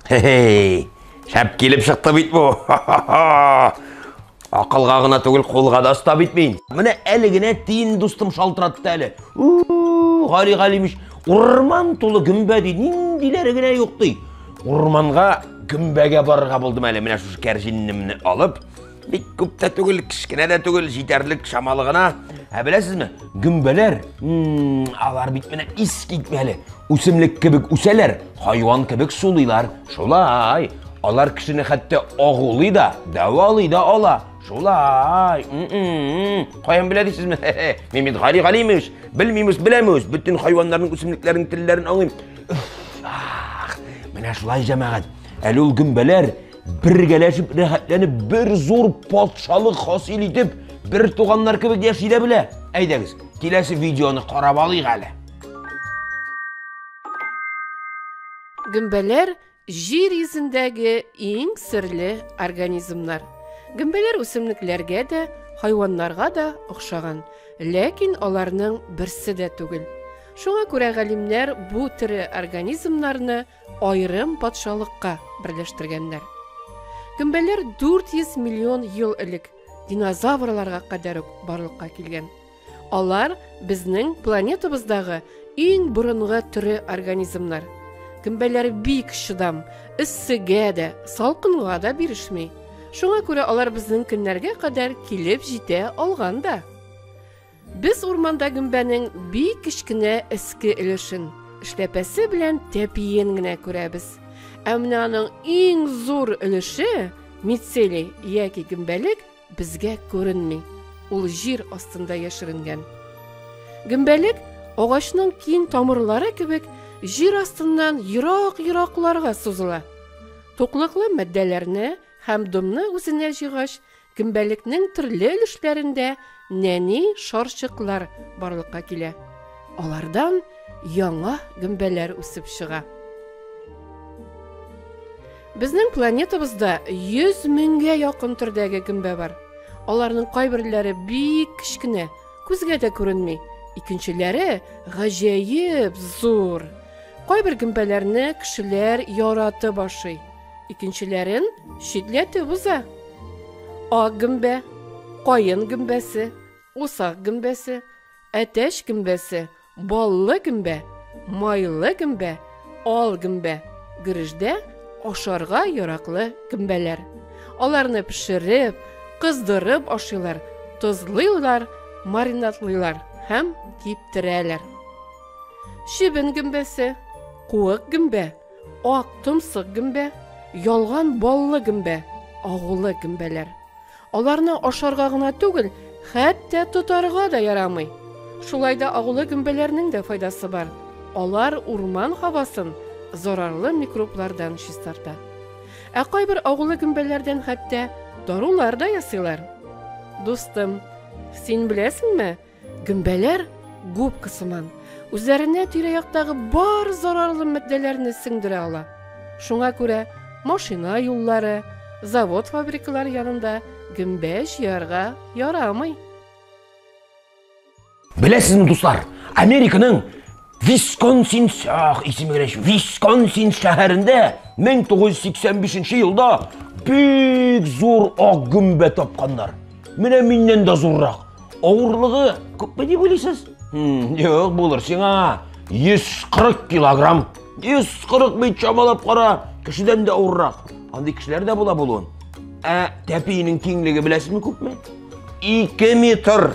Хе-хей! Шәп килеп чыкты бит бу. Акылга гына түгел, кулга да оста бит мин. Менә әле генә тиен дустым шалтыратты әле. Гали Галимиш, урман тулы гөмбә ди, ниндиләре генә юк ди. Урманга гөмбәгә барырга булдым әле, менә шушы кәрҗиннемне алып, бик күп тә түгел кечкенә дә түгел җитәрлек чамалы гына ә беләсезме гөмбәләр алар бит менә ис китмәле үсемлек кебек үсәләр хайван кебек сулыйлар шулай алар кешене хәтта агулый да дәвалый да ала шулай каян белә дисезме мин бит гали галимович белмимез беләмез бөтен хайваннарның үсемлекләрнең телләрен аңлыйм менә шулай җәмәгать әле ул гөмбәләр Бергәләшеп рәхәтләнеп бер зур патшалык хасил итеп, бер туганнар кебек яши дә белә. Әйдәгез, киләсе видеоны карап алыйк әле. Гөмбәләр җир йөзендәге иң серле организмнар. Гөмбәләр үсемлекләргә дә, хайваннарга да охшаган, ләкин аларның берсе дә түгел. Шуңа күрә галимнәр бу тере организмнарны Аерым патшалыкка берләштергәннәр. Гөмбәләр 400 миллион ел элек динозаврларга кадәр үк барлыкка килгән. Алар безнең планетабыздагы иң борынгы төре организмнар. Гөмбәләр бик чыдам, эссегә дә, салкынга да бирешми. Шуңа күрә алар безнең көннәргә кадәр килеп җитә алган да. Без урманда гөмбәнең бик кечкенә эске өлешен, эшләпәсе белән тәпиен генә күрәбез. Ә менә аның иң зур өлеше, мицелий яки гөмбәлек, безгә күренми. Ул җир астында яшеренгән. Гөмбәлек агачның киң тамырлары кебек җир астыннан ерак-еракларга сузыла. Туклыклы матдәләрне һәм домны үзенә җыйгач, Гөмбәлекнең төрле өлешләрендә нәни шарчыклар барлыкка килә. Алардан яңа гөмбәләр үсеп чыга. Безнең планетабызда 100 меңгә якын төрдәге гөмбә бар. Аларның кайберләре бик кечкенә, күзгә дә күренми, икенчеләре гаҗәеп зур. Кайбер гөмбәләрне кешеләр яратып ашый. Икенчеләрен читләтеп уза. Ак гөмбә, каен гөмбәсе, усак гөмбәсе, әтәч гөмбәсе, баллы гөмбә, майлы гөмбә, ал гөмбә, гөрештә ашарга яраклы гөмбәләр. Аларны пешереп, кыздырып ашыйлар, тозлыйлар, маринадлыйлар һәм киптерәләр. Чебен гөмбәсе, куык гөмбә, Ак томсык гөмбә, ялган баллы гөмбә, агулы гөмбәләр. Аларны ашарга гына түгел, хәтта тотарга да ярамый. Шулай да агулы гөмбәләрнең дә файдасы бар. Алар урман һавасын зарарлы микроблардан чистарта. Ә кайбер агулы гөмбәләрдән хәтта дарулар да ясыйлар. Дустым, син беләсеңме, Гөмбәләр губка сыман, үзләренә тирә-яктагы бар зарарлы матдәләрне сеңдерә ала. Шуңа күрә машина юллары, завод-фабрикалар янында гөмбә җыярга ярамый. Беләсезме, дуслар, Американың Висконсин сәх исеме генә ич. Висконсин шәһәрендә 1985 елда бик зур ак гөмбә тапканнар. Менә миннән дә зуррак. Авырлыгы күпме дип уйлыйсыз? Юк, булыр сиңа. 140 килограмм. 140 бит чамалап кара, кешедән дә авыррак. Андый кешеләр дә була булуын. Ә тәпиенең киңлеге беләсезме күпме? 2 метр.